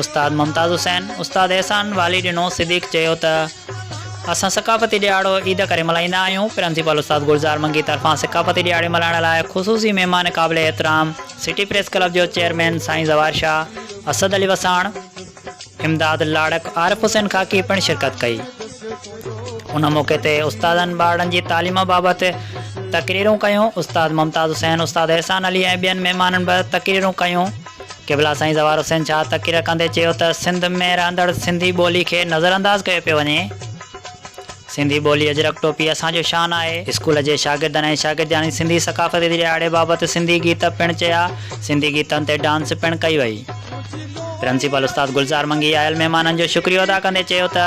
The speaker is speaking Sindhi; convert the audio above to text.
استاد ممتاز حسين، استاد احسان والي ڏنو صديق چيو ته اسان ثقافتي ڏهاڙو عيد ڪري ملهائيندا آهيون، پرنسپال استاد گلزار منگي طرفان ثقافتي ڏهاڙي ملهائڻ لاء خصوصي مهمان قابل احترام سٽي پريس ڪلب جو چيئرمين سائين زوار شاهه، اسد علي وساڻ، امداد لاڙڪ، عارف حسين خاڪي پڻ شرڪت ڪئي. ان موقعي تي استادن ٻارڙن جي تعليم بابت تقريرون ڪيون، استاد ممتاز حسين، استاد احسان علي ۽ ٻين مهمانن به تقريرون ڪيون. قبلا سائين زوار حسين شاهه تقرير ڪندي چيو ته سنڌ ۾ رهندڙ سنڌي ٻولي کي نظرانداز ڪيو پيو وڃي، سنڌي ٻولي اجرڪ ٽوپي اسان جو شان آهي. اسڪول جي شاگردن ۽ شاگردياڻين سنڌي ثقافت جي ڏهاڙي بابت سنڌي گيت پڻ چيا، سنڌي گيتن تي ڊانس پڻ ڪئي وئي. پرنسپل استاد گلزار منگي آيل مهمانن جو شڪريو ادا ڪندي چيو ته.